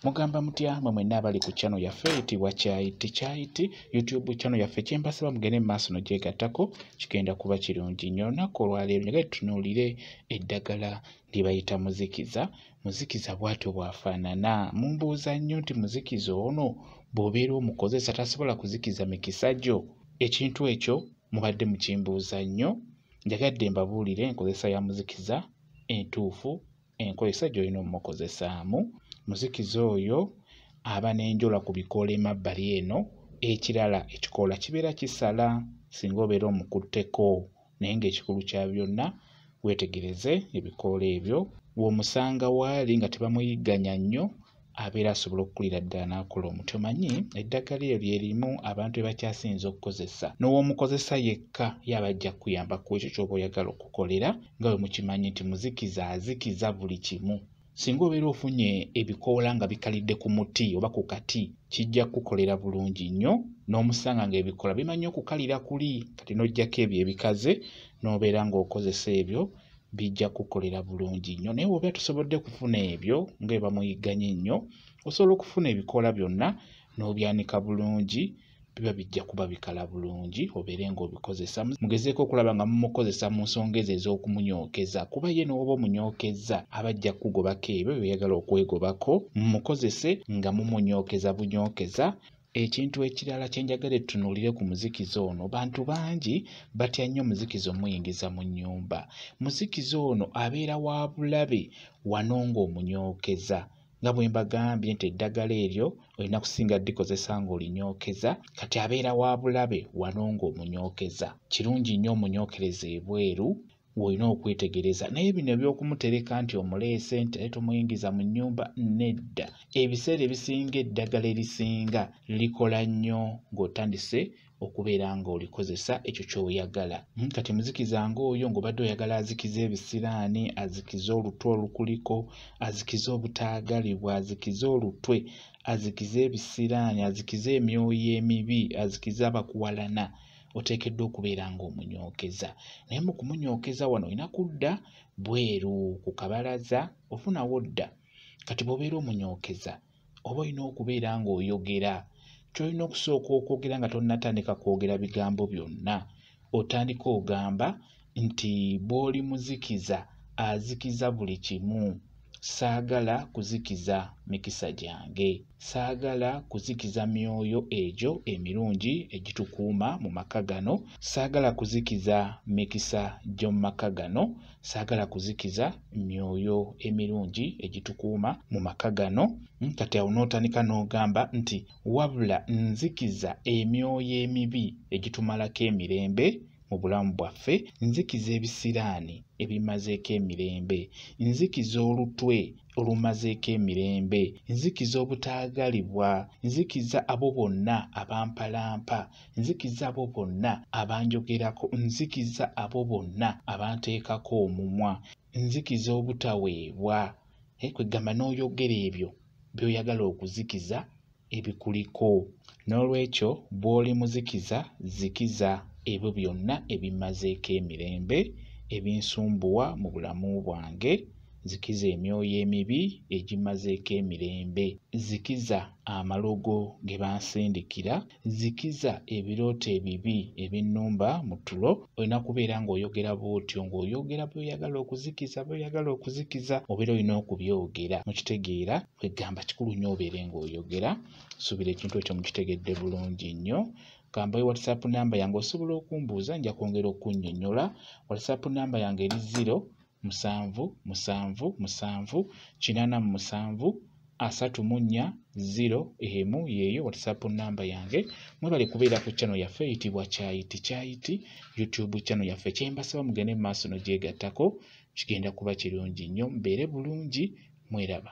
mugamba mutya mwe mwenna abali ku channel yaffe eyitibwa kyayiti kyayiti youtube channel yaffe kyembasaba mugende mu maaso nogyegattako kigenda kuba kirungi nnyo olunaku olwaleero nyaga tutunuulire eddagala lyebayita muzikiza muzikiza bwatyo bwafaanana mumbuuza nnyo nti muzikiza ono bw'obeera omukozesa tasobola kuzikiza mikisa gyo ekintu ekyo mubadde mukimbuuza nnyo njagadde mbabuulire enkozesa ya muzikiza entuufu enkozesa gy'olina omukozesaamu muzikiza oyo aba n'enjola ku bikoola emabbali eno ekirala ekikoola kibeera kisala singa obeera omukutteko naye ng'ekikulu kya byonna weetegereze ebikoola ebyo w'omusanga waali nga tebamuyigganya nnyo abeera asobola okukulira ddala n'akola omuti omanyi eddagala eryo lye limu abantu be bakyasinza okukozesa n'ow'omukozesa yekka yaba ajja kukuyamba ku ekyo ky'oba oyagala okukolera nga bwe mukimanyi nti muzikiza azikiza buli kimu singa obeera ofunye ebikoola nga bikalidde ku muti oba ku kati kijja kukukolera bulungi nnyo n'omusanga ng'ebikoola bimanyi okukalira kuli kati n'oggyako ebyo ebikaze n'obeera ng'okozesa ebyo bijja kukolera bulungi nnyo naye bwoba tusobodde kufuna ebyo nga ebamuyigganye nnyo osobola okufuna ebikoola byonna n'obyanika bulungi biba bijja kuba bikala bulungi obeere ng'obikozesa mugezeeko okulaba nga mumukozesa mu nsonga ezo ez'okumunyokeza kuba ye n'oba omunyokezza aba ajja kukugobako ebyo byoyagala okwegobako mumukozese nga mumunyokeza bunyokeza Ekintu ekirala kye njagala tutunuulire ku muzikiza ono, bantu bangi batya nnyo omuzikiza omuyingiza mu nnyumba. Muzikiza ono abeera wa bulabe wano ng'omunyookeza. Nga bwe mbagambye nti eddagala eryo olina kusinga likozesa ng'olinyookeza, kati abeera wa bulabe wano ng'omunyookeza. Kirungi nnyo omunyookereze ebweru w'olina okwetegereza naye bino eby'okumutereka nti omuleese nti naye tomuyingiza mu nnyumba nedda ebiseera ebisinga eddagala erisinga likola nnyo ng'otandise okubeera ng'olikozesa ekyo ky'oyagala hmm, kati muzikiza ng'oyo ng'obadde oyagala azikize ebisiraani azikize olutwe olukuliko azikize obutaagalibwa azikize olutwe azikize ebisiraani azikize emyoyo emibi azikize abakuwalana oteekeddwa okubeera ng'omunyookeza naye mu kumunyookeza wano olina kudda bweru ku kabalaza ofunawo dda kati bw'obeera omunyookeza oba olina okubeera ng'oyogera kyolina okusooka okwogera nga tonnatandika kwogera bigambo byonna otandika ogamba nti bw'oli muzikiza azikiza buli kimu saagala kuzikiza mikisa gyange saagala kuzikiza myoyo egyo emirungi egitukuuma mu maka gano saagala kuzikiza mikisa gy'omu maka gano saagala kuzikiza myoyo emirungi egitukuuma mu maka gano hmm, kati awo n'otandika n'ogamba nti wabula nzikiza emyoyo emibi egitumalako emirembe mu bulamu bwaffe nzikiza ebisiraani ebimazeeko emirembe nzikiza olutwe olumazeeko emirembe nzikiza obutaagalibwa nzikiza abo bonna abampalampa nzikiza abo bonna abanjogerako nzikiza abo bonna abanteekako omumwa nzikiza obutaweebwa eh, kwegamba n'oyogera ebyo by'oyagala okuzikiza ebikuliko. N'olwekyo bw'oli muzikiza, zikiza ebyo byonna ebimmazeeko emirembe, ebinsumbuwa mu bulamu bwange, zikiza emyoyo emibi egimmazeeko emirembe, zikiza amalogo ge bansindikira, zikiza ebirooto ebibi ebinnumba mu tulo. Olina kubeera ng'oyogera bw'otyo, ng'oyogera by'oyagala okuzikiza, by'oyagala okuzikiza, obeera olina okubyogera. Mukitegeera? kwegamba kikulu nnyo obeere ng'oyogera suubira ekintu ekyo mukitegedde bulungi nnyo kambayo whatsapp namba yange osobola okumbuuza nja kwongera okunnyonnyola whatsapp namba yange eri ziro musanvu musanvu musanvu kinaana mu musanvu asatu mu nnya ziro emu yeeyo whatsapp namba yange mwebale kubeera ku channel yaffe eyitibwa kyayiti kyayiti youtube channel yaffe kyembasaba mugende mu maaso nogyegattako kigenda kuba kirungi nnyo mbeere bulungi mweraba